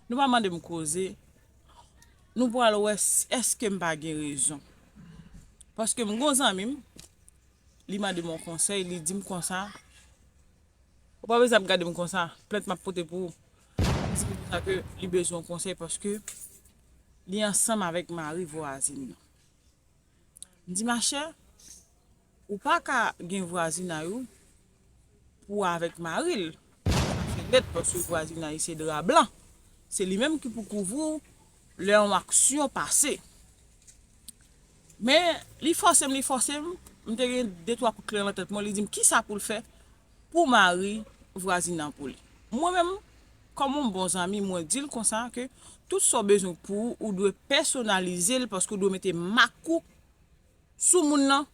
Nou pa mande m koze, nou pral wè èske m pa gen rezon. Paske m gen yon zanmi m, li mande m yon konsèy, li di m konsa, Ou pa bezwen ap gade m konsa, plent m ap pote pou ou. Se pou sa ke li bezwen yon konsèy paske li ansanm avèk mari vwazin nan. M di machè, ou pa ka gen vwazinay ou pou w avèk mari l. Sa fè lèd paske vwazinay se dra blan. Se li menm ki pou kouvri w lè yon aksyon pase. Men, li fòse m, li fòse m, m te gen de twa kout klè nan tèt mwen, li di m kisa pou l fè pou mari vwazin nan pou li. Mwen menm, kòm yon bon zanmi, mwen di l konsa ke tout sa w bezwen pou ou, ou dwe pèsonalize l paske ou dwe mete mak ou sou moun nan,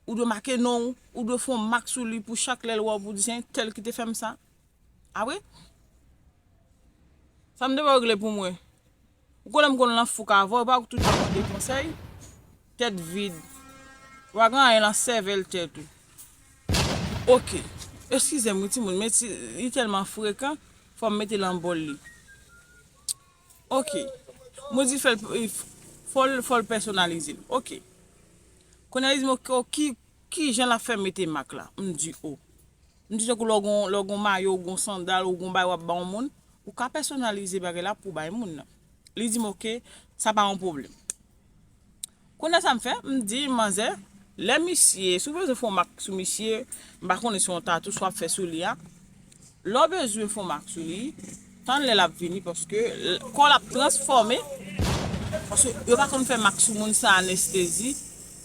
ou dwe make non ou, ou dwe fè yon mak sou li pou chak lè l wè w pou l di se entèl ki te fè m sa. Apre, sa m te wè w regle pou mwen. Ou konnen m konn lan fouk avèw epa ou k toujou ap mande konsèy? Tèt vid. Ou pa gen anyen lan sèvèl tèt ou. Ok. Eskize m wi ti moun men ti li tèlman frekan fò m mete lan bòl li. Ok. Mwen di fè l fò l fò l pèsonalize l. Ok. Kounya li di m ok kijan l ap fè mete mak la. M di o. M di tankou lè w gen yon mayo ou gen yon sandal ou gen yon bagay w ap ba yon moun, ou ka pèsonalize bagay la pou w bay moun nan. Li di m ok, sa pa yon pwoblèm. Kounye a sa m fè, m di manzè, lè misye, si w bezwen fè yon mak sou misye, m pa konnen se yon tatou sa w ap fè sou li a, lè w bezwen fè yon mak sou li, Tann lè lap vini paske kòl ap transfòme paske yo pa konn fè mak sou moun san anestezi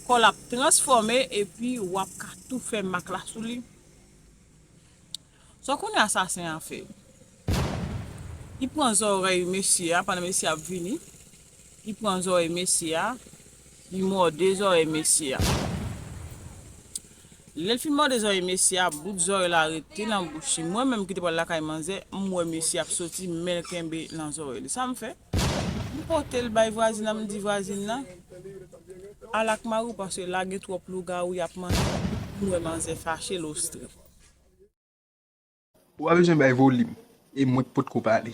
kòl ap transfòme epi wap ka tou fè mak la sou li sa kounye asasen an fè li pran zòrèy mesye a pandan mesye a ap vini li pran zòrèy mesye a. Li mòde zòrèy mesye a. Lè l fin mòde zòrèy mesye a, bout zòrèy la rete nan bouch li. Mwen menm ki te pral lakay manzè, m wè mesye ap soti, men l kenbe nan zòrèy li. Sa m fè? M pote l bay vwazin nan, m di vwazin nan, Al ak mari w paske la gen twòp lougawou y ap manje. M wè manzè fache l ostre. Ou pa bezwen bay volim e mwen k potko pale.